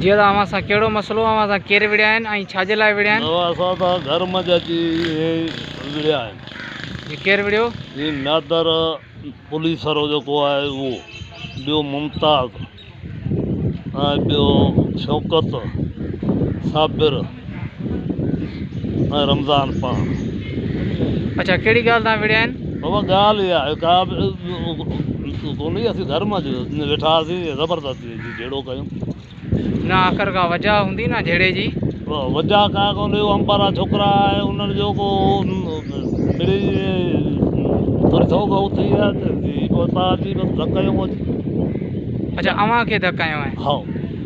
جيئن ته اوهان سان ڪهڙو مسئلو اوهان سان ڪير وڙهيا آهن ۽ ڇا جي لاء وڙهيا آهن؟ نوان اسان سان گهر منجهه اچي اهي وڙهيا آهن. جي ڪير وڙهيو؟ جي نادر پوليسرو جيڪو آهي اهو، ٻيو ممتاز ۽ ٻيو شوڪت، صابر، ۽ رمضان پاڻ. اڇا ڪهڙي ڳالهه تان وڙهيا آهن؟ بابا ڳالهه اها آهي ڪا به ڪونهي اسين گهر مان ويٺا هئاسين زبردستي جي جهيڙو ڪيون. نه آخر ڪا وجهه هوندي نه جهيڙي جي. وجهه ڪا ڪونهي هو امپارا ڇوڪرا آهي انهن جو ڪو مڙئي ٿوري ٿو بهو ٿي آهي ته هي پوء پاڙجي بس ڌڪ هنيو هو جي. اڇا اوهان کي ڌڪ هنيو آهي. هائو.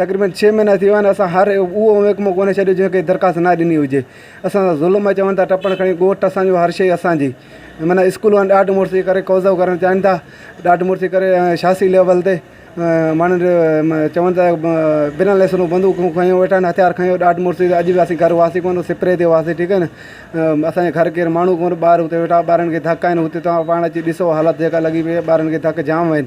تقريبن ڇهه مهينا ٿي ويا آهن اسان هر اهو محڪمو ڪونه ڇڏيو جنهن کي درخواست نه ڏني هجي اسان سان ظلم ۽ چون ٿا ٽپڻ کڻي ڳوٺ اسانجو هر شيء اسانجي معنيٰ اسڪول وارن ڏاڍ مڙس جي ڪري قوضو ڪرڻ چاهين ٿا ڏاڍ مڙس جي ڪري شاخصي ليول تي ماڻهن جو چون ٿا بنا ليسنون بندوقون کڻيو ويٺا آهن هٿيار کڻيو ڏاڍ مڙس جي اڄ به اسين گهر هئاسين ڪونه سپري تي هئاسين ٺيڪ آهي نه اسانجي گهر ڪير ماڻهو ڪونه ٻار هتي ويٺا ٻارن کي ڌڪ آهن هتي تون پاڻ اچي ڏسو حالت جيڪا لڳي پئي ٻارن کي ڌڪ جام آهن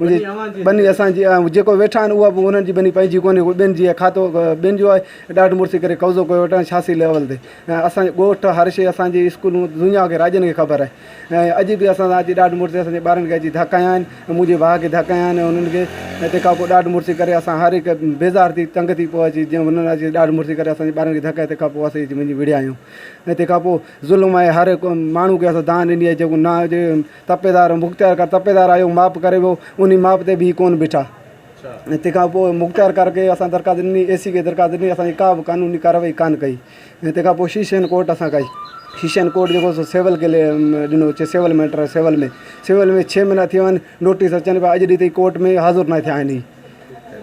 ٻني اسان جي آهي، جيڪو ويٺا آهن اها به انهن جي ٻني پنهنجي ڪونهي، اهو ٻين جي آهي، کاتو ٻين جو آهي، ڏاڍ مڙسي ڪري قبضو ڪيو ويٺا آهن شاهسيل اول تي، اسان جو ڳوٺ، هر شيء، اسان جي اسڪولون، دنيا کي راڄن کي خبر آهي، اڄ به اسان سان اچي ڏاڍ مڙسي اسان جي ٻارن کي اچي ڌڪ هنيا آهن، منهنجي ڀاء کي ڌڪ هنيا آهن انهن کي، تنهن کان پوء ڏاڍ مڙسي ڪري اسان هر هڪ بيزار ٿي تنگ ٿي پوء اچي جيئن انهن اچي ڏاڍ مڙسي ڪري اسان جي ٻارن کي ڌڪ هنيا تنهن کان پوء اسين اچي وڃي وڙهيا آهيون ۽ تنهن کان پوء ظلم آهي هر هڪ ماڻهو کي اسان دانهن ڏني آهي جيڪو نه هجي تپيدار، مختيار ڪا تپيدار آيوڪ ماپ ڪري ويو، انهي ماپ تي به هي ڪونه بيٺا ۽ تنهن کان پوء مختيار ڪار کي اسان درخواست ڏني، اي سي کي درخواست ڏني، اسان جي ڪا به قانوني ڪارروائي ڪانه ڪئي ۽ تنهن کان پوء شيشين ڪورٽ اسان ڪئي، شيشين ڪورٽ جيڪو سو سول کي ڏنو چي سول ميٽر سول ۾ سول ۾ ڇهه مهينا ٿي ويا آهن، نوٽيس اچن پيا، اڄ ڏينهن تائين ڪورٽ ۾ حاضر ناهي ٿيا آهن هي،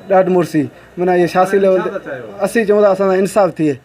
ڏاڍ مڙسي معنيٰ هي سياسي ليول تي اسين چئون ٿا اسان سان انصاف ٿئي.